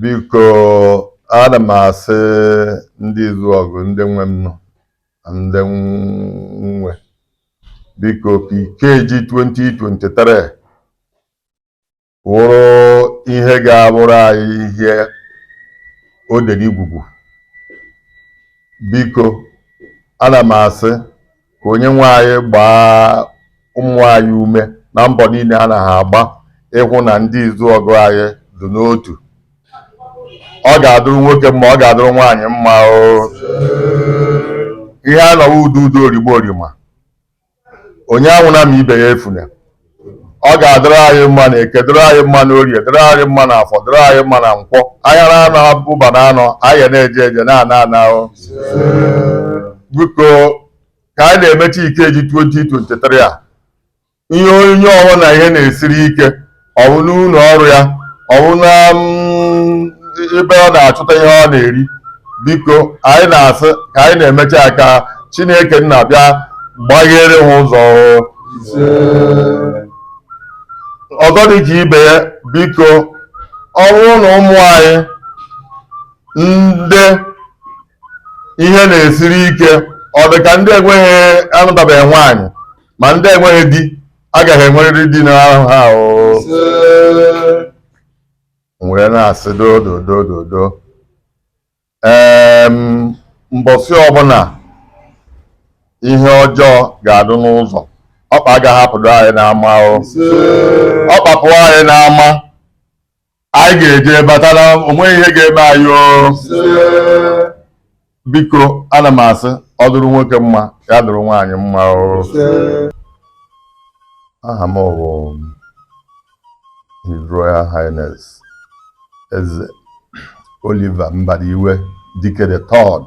biko ana m asị ndị Izuọgụ ndị nwe m nọ ndị nwe biko ka Ikeji 2023 wụrụ ihe ga-abụrụ anyị ihe odere igwugwu biko ana m asị ka onye nwe anyị gbaa ụmụ anyị ume na mbọ niile ana ha agba ịhụ na ndị Izuọgụ anyị dị n'otu ọ ga-adụrụ nwoke mma ọ ga-adụrụ nwaanyị mma o ihe a nọwa udo udo origbo orima onye anwụna ma ibe ya efuna ọ ga-adịrị anyị mma na eke dịrị anyị mma na orie dịrị anyị mma na afọ dịrị anyị mma na nkwọ ahịa na anọ abụba na anọ anyị na-eje eje na-ana ana o biko ka anyị na-emechi Ikeji 2023 a ihe onye ọbụna ihe na-esiri ike ọ wụ n'ụlọ ọrụ ya ọ wụ na mm, ebe ọ na-achụta ihe ọ na-eri biko anyị na-asị ka anyị na-emechi ya ka Chineke nna bịa gbaghere ha ụzọ ọ ga-adị ka ibe ya biko ọ bụrụ na ụmụ anyị ndị ihe na-esiri ike ọ dị ka ndị enweghị anụtabeghị nwaanyị ma ndị enweghị di aga ha enwerịrị di n'ahọ a o were na-asị dododododo ee mbọsị ọbụla ihe ọjọọ ga-adụ n'ụzọ ọkpa agaghị apụdo anyị n'ama o ọkpa pụ anyị n'ama anyị ga-eje batara o nweghị ihe ga-eme anyị o biko ana m asị ọ dụrụ nwoke mma ya dụrụ nwaanyị mma o aha m bụ His Royal Highness Eze Oliver Mbadiwe Dike the Third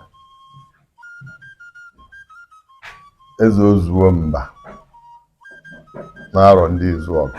Eze Ozuo Mba n'Arọ ndị Izuọgụ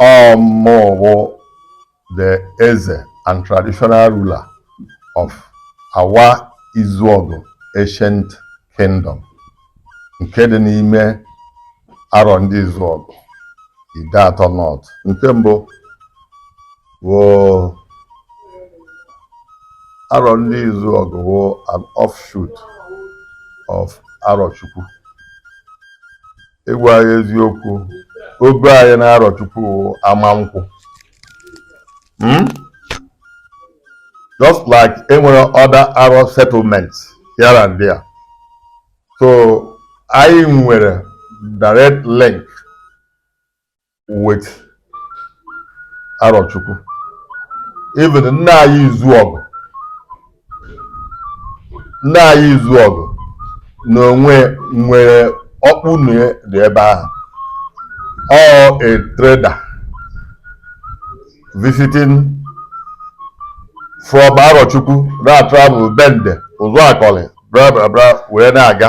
ọ mụ wụ the Eze and traditional ruler of Awa Izuọgụ Ancient Kingdom nke dị n'ime Arọ ndị Izuọgụ Ideatọ North nke mbụ wụ Arọndizuọgụ wụ an offshoot of arọchukwu ịgwa gị eziokwu ogo anyị na arọchukwu wụ Amankwụ Hmm? just like enwere other arọ settlements here and there so anyị nwere direct link with Arochukwu even nna anyị Izuọgụ nna anyị Izuọgụ na onwe nwere ọkpụnọ dị ebe ahụ ọ a trader visiting from Arochukwu na-atravel bende Ụzụakọlị bra bra bra wee na-aga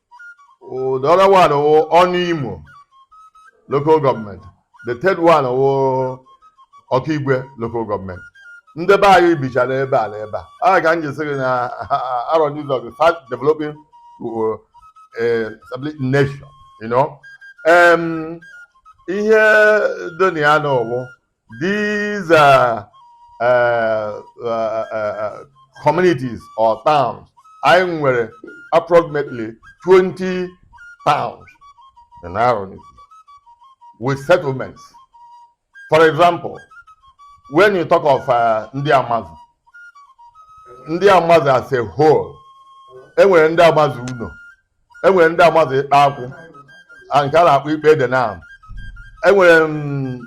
the other one wụ Ọnụimo local government the third one wụ Okigwe local government ndị be anyị bichara ebe a na ebe a a ka m ji sị gị na Arọndizuọgụ fast developing uh, eh, established nation you know um, ihe dị na ya na ọ wụ These uh, uh, uh, uh, communities or towns, anyị nwere approximately 20 towns in Arọ land with settlements. For example, when you talk of uh, ndị Amazu, ndị Amazu as a whole, enwere ndị Amazu Uno. e nwere ndị Amazu ikpa akwụ nke a na-akpọ ikpa ede na enwere m-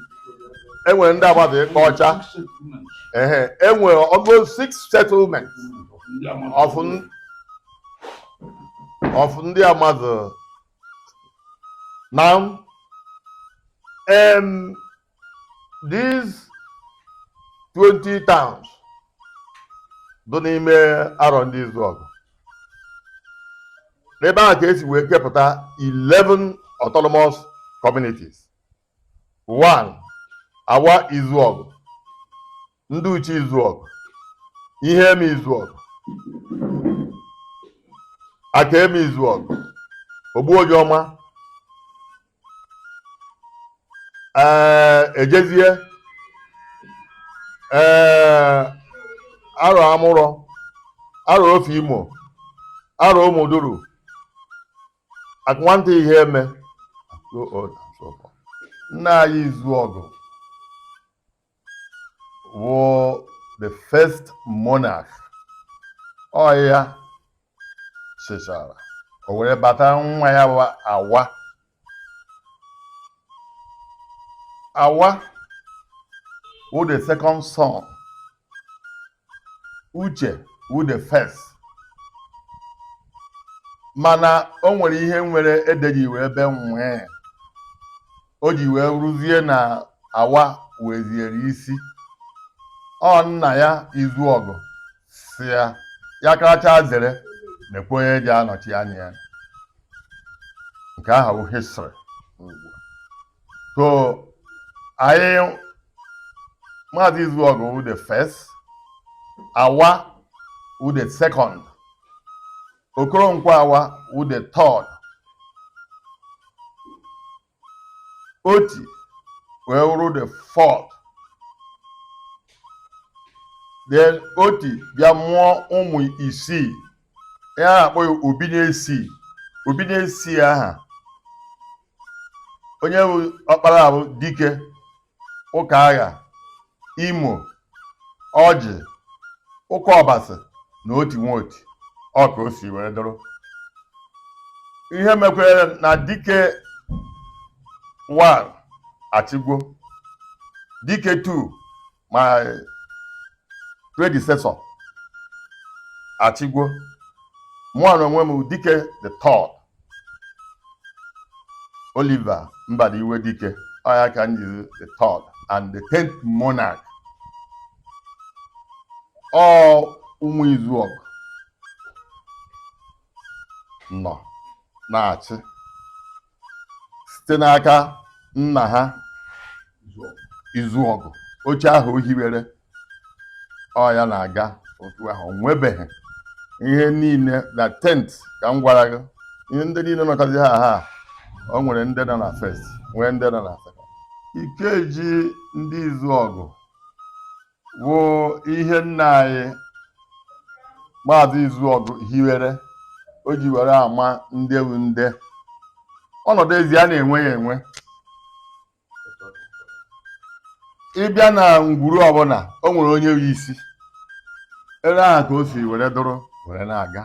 enwere ndị Amazu ikpa ọcha ehe enwere over six settlement of n- of ndị Amazu na em these 20 towns dị n'ime Arọndizuọgụ n'ebe ahụ ka esi wee kepụta 11 autonomous communities one Awa Izuọgụ Ndịuche Izuọgụ Iheme Izuọgụ Akaeme Izuọgụ Ogbuonyeọma ee ejezie ee arọ amụrọ arọ ofe imo arọ ụmụduru akụnwanta Iheme nna anyị Izuọgụ wụ the first monarch ọ ya chịchara o were bata nwa ya wụ awa awa wụ the second son uche wụ the first mana o nwere ihe nwere edeji wee ebe nwee o ji wee ruzie na awa weziere isi ọ nna ya Izuọgụ sị ya ya karacha zere mekwa onye ji anọchi anya ya nke ahụ wụ history so anyị maazị Izuọgụ wụ the first Awa wụ the second Okoronkwo Awa wụ the third Oti wee wụrụ the fourth then Oti bịa mụọ ụmụ isii ya na-akpọ ya obi na isii obi na isii ahụ onye bụ ọkpara bụ dike ụka agha imo ọjị ụka ọbasị na oti nwa oti ọ ka o si wee dụrụ ihe mekwere na dike 1 achịgwo dike 2 my predecessor achịgwo mụa na onwe m dike the third oliver mbadiwe dike ọ ya ka m jiri the third and the tenth monarch ọ ụmụ izuọgụ nọ na-achị site n'aka nna ha Izuọgụ oche ahụ o hiwere ọ ya na-aga otu ahụ o nwebeghị ihe niile na tenth ka m gwara gị ihe ndị niile nọkọzi ha ha o nwere ndị nọ na first nwee ndị nọ na second ikeji ndị Izuọgụ wụ ihe nna anyị maazị Izuọgụ hiwere o ji were ama ndị wụ ndị ọnọdụ ezi a na-enwe ya enwe ị bịa na ngwuru ọbụla o nwere onye wụ isi area ahụ ka o si were dụrụ were na-aga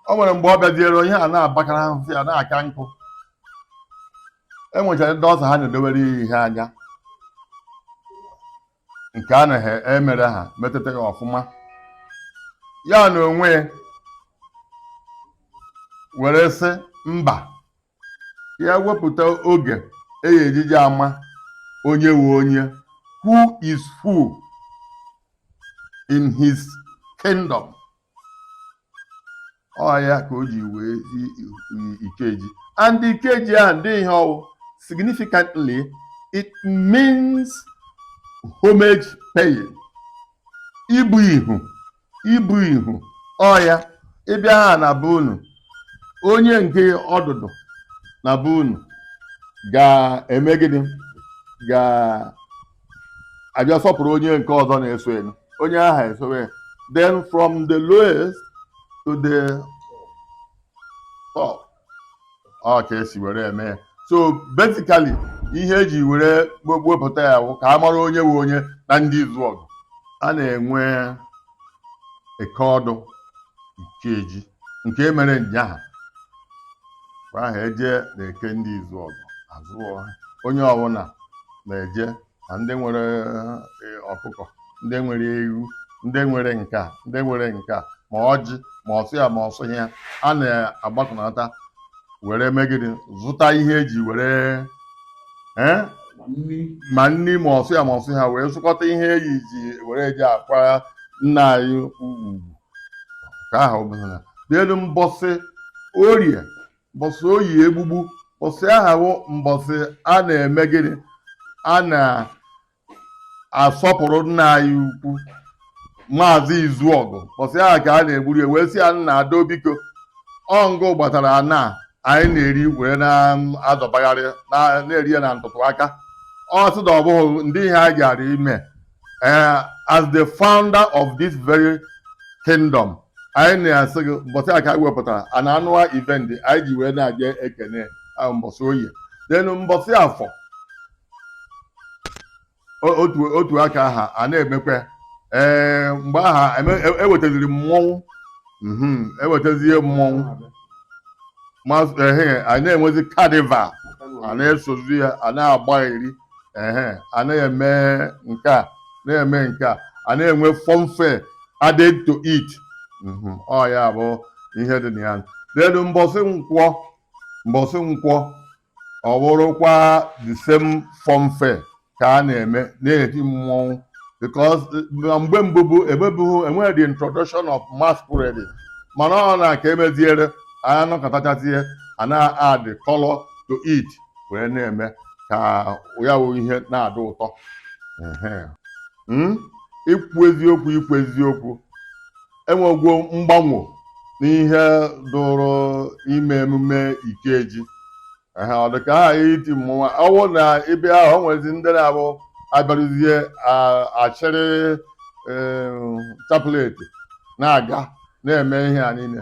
o nwere mgbe ọ bịaziere onye a na-abakara ahụhụ ya na-aka nkụ e nwechara ndị ọzọ ha na-edowere ya ihe anya nke a naghị emere ha metụta ya ọfụma ya na onwe ya were sị mba ya wepụta oge eyi ejije ama onye wụ onye who is who in his kingdom ọ ya ka o ji nwee ikeji and ikeji a ndị ihe ọ wụ significantly it means homage paying ibu ihu ibu ihu ọ ya ịbịa ha na be unu onye nke ọdụdụ na be unu ga-eme gịnị ga-abịa sọpụrụ onye nke ọzọ na-eso elu onye aha esowe ya. then from the lowest to the top ọ ka e si were eme ya so basically ihe e ji were wepụta ya bụ ka a mara onye bụ onye na ndị izuọgụ a na-enwe eke ọdụ ikeji nke e mere nyaha mgbe ahụ e je n'eke ndị izuọgụ azụ ahịa onye ọbụla na-eje na ndị nwere e, ọkụkọ ndị nwere ewu ndị nwere nke a ndị nwere nke a ma ọjị ma ọsụ ya ma ọsụ ya a na-agbakọnata were megide zụta ihe eji were ee ma nri ma ọsụ ya ma ọsụ ha wee zụkọta ihe eyi ji were eji akwa nna anyị ukwu kwa ahọ ọbụla then mbọsị orie mbọsị oye egbugbu mbọsị ahụ mbọsị a na-eme gịnị a na-asọpụrụ nna anyị ukwu maazị izuọgụ mbọsị ahụ ka a na-egburu ya wee sị ya nna ado biko ọ ngị gbatara ana anyị na-eri wee na-azọbagharị na-eri ya na ntụtụ aka a sị na ọ bụghị ngị ihe a gara ime Eh, as the founder of this very kingdom anyị na-asị gị mbọsị a ka anyị wepụtara a na anụwa event anyị ji wee na-eje ekene ah, mbọsị oye then mbọsị afọ o- otu otu aka aha a na-emekwa ee mgbe aha eme- e- ewetaziri mmọnwụ mhm, ewetazie mmọnwụ ma ehe a na-enwezi carnival a na-esozi ya a na-agba iri ehe a na-eme nke a na-eme nke a a na-enwe funfair added to it Mhm, ọ ya bụ ihe dị na ya then mbọsị nkwọ mbọsị nkwọ ọ bụrụkwa the same funfair ka a na-eme na-eti mmọnwụ because na mgbe mbụ bụ emebughị enweghị the introduction of masquerade mana ọ na ka emeziere anyị anọkatachazie a na-add color to it wee na-eme ka ya wụ ihe na-adị ụtọ Ehe. Mm? ikwu eziokwu ikwu eziokwu enwegwo mgbanwo n'ihe dụrụ ime emume Ikeji Ehe, ọ dị ka ha iti mmọnwụ na ibe ahụ o nwezi ndị na-abụ a bịaruzie a- achịrị ee, chaplet na-aga na-eme ihe a niile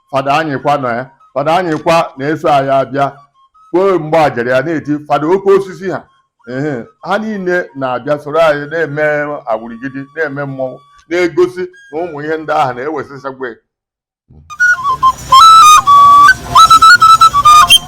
fada anyịkwa nọ ya fada anyịkwa na-eso anyị abịa kpoo mgbe e jere ya na-eti fada oke osisi ha ehe ha niile na-abịa soro anyị na-eme awurigidi na-eme mmọnwụ na-egosi na ụmụ ihe ndị ahụ na-ewesịsagwa